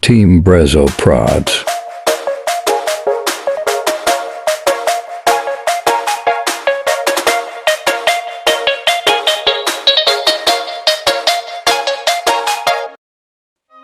Team Brezo Prodz.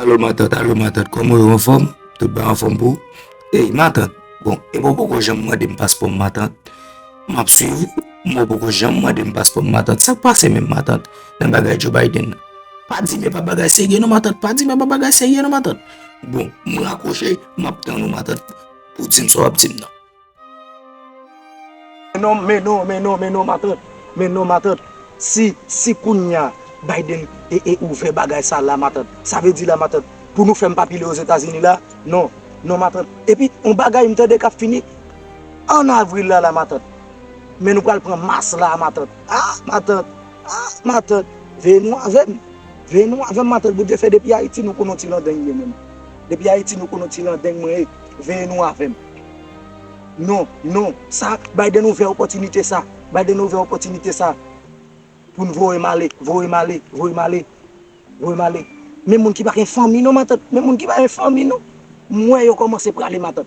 Alo matant alo matant kòman yo anfòm tout bay anfòm pou ou ey matant bon epi ou poko janm mandem paspòm matant. Map swiv ou, mwen poko janm mandem paspòm matant, sak pase menm matant nan bagay Joe Biden nan? Pa di men pa bagay serye non matant, pa di men pa bagay serye non matant. Bon, m rakwoche, map tann ou matant pou w dim sa w ap dim nan. Men non, men non, men non, men non matant, men non matant, si, si kounya Biden e, e ouvè bagay sa la matant, sa vle di la matant pou nou fè m pa pile Ozetazini la? Non, non matant. Epi on bagay m tande kap fini. An avril la la matant. Men nou pral pran mas la a matant. Ah matant ah matant veye nou avèm veye nou avèm matant Bondye fè depi ayiti nou konnen yon ti landeng mwen menm depi ayiti nou konnen yon ti landeng mwen e veye nou avèm non non sa Biden ouvè opòtinite sa Biden ouvè opòtinite sa poun voyem ale voyem ale voyem ale voyem ale men moun ki pa gen fanmi non matant men moun ki pa gen fanmi non m wè yo kòmanse prale matant.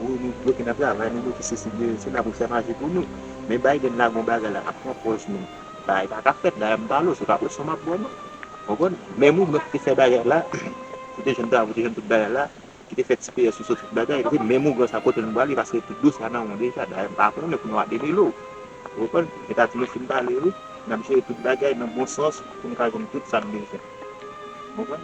Wi nou bloke nan travay nou bloke sesi bloke sela pou fè maji pou nou men Biden lage yon bagay la ap pran pòz nou bagay la paka fèt la yap bal ou se pa presyon map baw non ou konprann menm ou menm ki te fè bagay la ou te jwenn travay ou te jwenn tout bagay la ki te fè ti peyè sou sou tout bagay ok menm ou sa kote nou prale paske tout dosye a nan ou deja dayè mpa konnen pou nou a demele ou ou konprann etazini fin pale wi nap jere tout bagay nan bon sans poun ka jwenn tout sa nou bezwen. Mwen.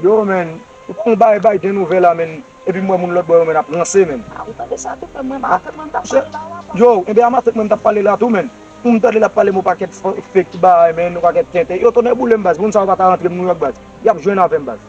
Yo menn ou pran bay bay gen nouvè la menn epi m wè moun lòtbò yo menn ap ranse menn a ou tande sa tou menn menm amatèt mwen m tap pale la a yo enben amatèt mwen m tap pale la tou menn pou m tande lap pale m on pakèt fake bay menn on pakèt tenten yo tonnè boulem baz moun sa yo pata rantre m nouyòk baz yap jwenn avèm baz.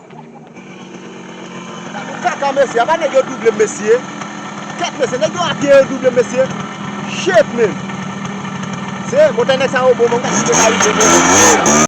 Kaka mesye apa nèg yo doublem mesye ket mesye nèg yo apye yo doublem mesye shit menn se montay nèg sa yo bon men mwen pa rive menm.